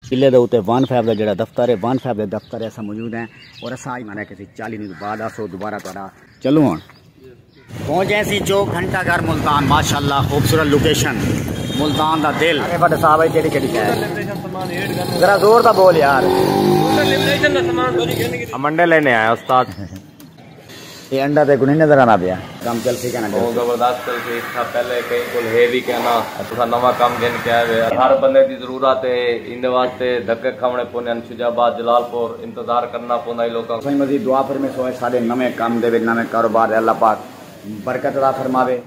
قلعے دے اتے وان فیب دا جڑا دفتر ہے وان فیب دے دفتر اسا موجود ہیں اور اسا آج مانا کسی چالی نوز بعد آسو دوبارہ تو آرہا چلو ہون پہنچ جائیں سی جو گھنٹہ گھر ملتان ماشاءاللہ خوبصورت لوکیشن ملتان دا دل اے بڑے صاحب ہے کیڑی کیڑی شہر ذرا زور دا بول یار منڈے لینے آیا استاد اے انڈا تیکوں نئیں نظر آندا پیا۔ کم چلسی کیاں نہ چلسی۔ او زبردست چلسی اس تھاں پہلے کہیں کول ہے وی کیاں نہ۔ تساں نواں کم گھن کے آئے وے۔ ہر بندے دی ضرورت ہے ایندے واسطے دھکے کھاونے پوندے ہن شجاع آباد جلال پور انتظار کرنا پوندا ای لوکاں کوں۔ سائیں مزید دعا فرمیسو اے ساڈے نویں کم دے وچ نویں کاروبار دے اللہ پاک برکت عطا فرماوے۔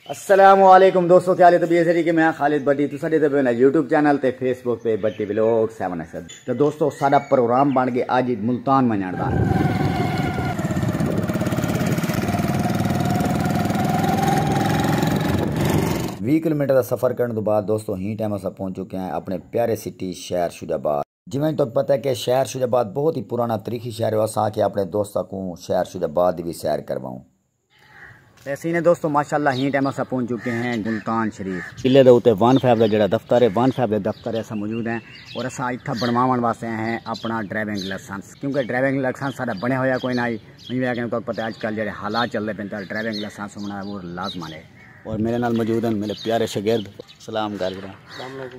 السلام علیکم دوستو کیا لے تو بیسری کے میں خالد بٹی تو ساڈے تے بنا یوٹیوب چینل تے فیس بک پہ بٹی ویلوگ 7 ایکس تو دوستو ساڈا پروگرام بن گئے اج ملتان منجان دا وی کلومیٹر دا سفر کرن تو بعد دوستو ہی ٹائم اسا پہنچ چکے ہیں اپنے پیارے سٹی شہر شجاباد جیویں جو تہاکوں پتہ ہے کہ شہر شجاع آباد بہت ای پرانا تریخی شہر ہے، اساں آکھیا اپنڑے دوستاں کوں شہر شجاع آباد دی وی سیر کروائوں۔ اے سین ہے دوستو ماشاءاللہ ہین ٹائم اساں پہنچ چکے ہیں ملتان شریف۔ قلعے دے اتے وان فائیو دا جیہڑا دفتر ہے وان فائیو دے دفتر تے اساں موجود ہیں اور اساں اتھاں بنڑواونڑ واسطے آئے ہیں اپنڑا ڈرائیونگ لائسنس کیونکہ ڈرائیونگ لائسنس ساڈا بنڑیا ہویا کوئی نہ ہئی ایں وجہ نال تہاکوں پتہ ہے اج کل جیہڑے حالات چلدے پئے تاں ڈرائیونگ لائسنس ہونڑاں بہت لازمن ہے۔ اور میڈے نال موجود ہیں میڈے پیارے شاگرد۔ سلام کر گھرا۔ سلام علیکم۔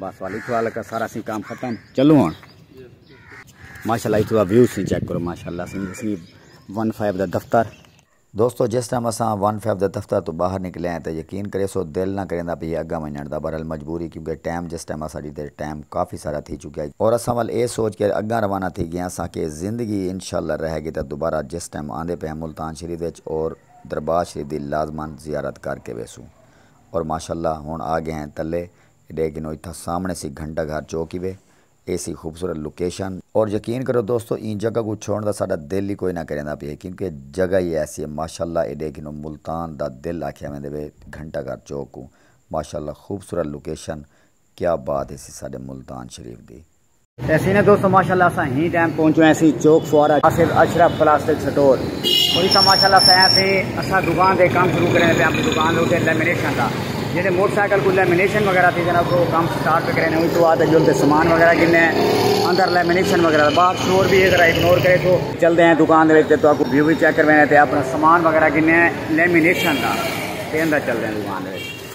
بس والی تو لگا سارا سی کام ختم چلو ہن ماشاءاللہ اتوا ویو سی چیک کرو ماشاءاللہ سی سی 15 دا دفتر دوستو جس ٹائم اساں 15 دا دفتر تو باہر نکلے ہیں تے یقین کرے سو دل نہ کریندا پئی اگا ونجن دا برحال مجبوری کیونکہ ٹائم جس ٹائم اساڈی تے ٹائم کافی سارا تھی چکیا ہے اور اساں ول اے سوچ کے اگا روانہ تھی گئے ہاں ساں کہ زندگی انشاءاللہ رہے گی تے دوبارہ جس ٹائم آندے پئے ہیں ملتان شریف وچ اور دربار شریف دی لازما زیارت کر کے ویسوں اور ماشاء اللہ ہن آ گئے ہیں تلے ایڈے گھنو اتھاں سامنے سی گھنٹہ گھر چوک ای وے اے سی خوبصورت لوکیشن اور یقین کرو دوستو ایں جگہ کوں چھوڑن دا ساڈا دل ای کوئی نہ کریندا پیے کیونکہ اے جگہ ای ایسی اے ماشاء اللہ ایڈے گھنو ملتان دا دل آکھیا ویندے وے گھنٹہ گھر چوک کوں ماشاء اللہ خوبصورت لوکیشن کیا بات ہیسی ساڈے ملتان شریف دی۔ ایسی نے دوستو ماشاءاللہ اسا ہی ٹائم پہنچو ایسی چوک فوارا آصف اشرف پلاسٹک سٹور کوئی سا ماشاءاللہ اسا ایسی اسا دکان دے کام شروع کرنے پہ اپنی دکان دے اٹھے لیمنیشن دا جیسے موٹر سائیکل کو لیمنیشن وغیرہ تھی جناب کو کام سٹارٹ پہ کرنے ہوئی تو آتے جو انتے سامان وغیرہ گنے اندر لیمنیشن وغیرہ باہر شور بھی ہے ذرا اگنور کرے تو چل دے ہیں دکان دے ویچے تو آپ کو ویو بھی چیک کر بینے تھے اپنا سامان وغیرہ گنے لیمنیشن دا تے اندر چل دے ہیں دکان دے ویچے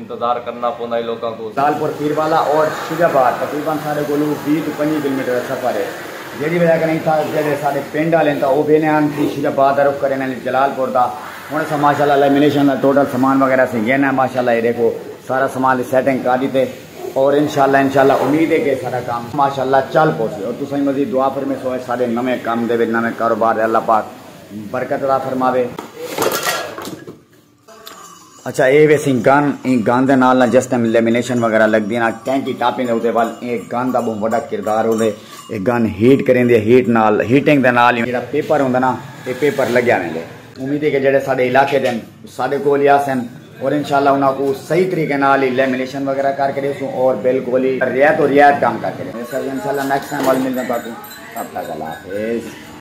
انتظار کرنا پوندا اے لوکاں کوں۔ لالپور پیر والا اور شیخ آباد تقریبا ساڈے کولو وی توں پنجی کلومیٹر دا سفر اے جیڑی وجہ کنیں اتھاں دے جیڑھے ساڈے پنڈ آلے ہن تاں او ویندے ہن فیر شیخ آباد دا رخ کریندے ہن جلال پور دا ہن اساں ماشاءاللہ لیمینیشن دا ٹوٹل سامان وغیرہ اسیں گھن آئے ماشاءاللہ اے ڈیکھو سارا سامان دی سیٹنگ کر ڈیتے اور انشاءاللہ انشاءاللہ امید اے کہ ساڈا کم ماشاءاللہ چل پوسی اور تساں وی مزید دعا فرمیسو اے ساڈے نویں کم دے وچ نویں کاروبار دے اللہ پاک برکت عطا فرماوے۔ اچھا اے ویسی گن ایں گن دے نال نہ جس ٹائم لیمینیشن وغیرہ لگدی نہ کینٹی ٹاپنگ دے اوتے ول اے گن دا بہوں وڈا کردار ہوندے اے گن ہیٹ کریندی اے ہیٹ نال ہیٹنگ دے نال جیڑا پیپر ہوندا نہ اے پیپر لگیا ویندے امید اے کہ جیڑے ساڈے علاقے دے ساڈے کول ہی آسن اور انشاءاللہ انہاں کوں صحیح طریقے نال ہی لیمینیشن وغیرہ کر کے ڈیسوں اور بالکل ہی ریت و ریت کم کر کے ڈیسوں انشاءاللہ نیکسٹ ٹائم ول ملدے تاکوں تب تک اللہ حافظ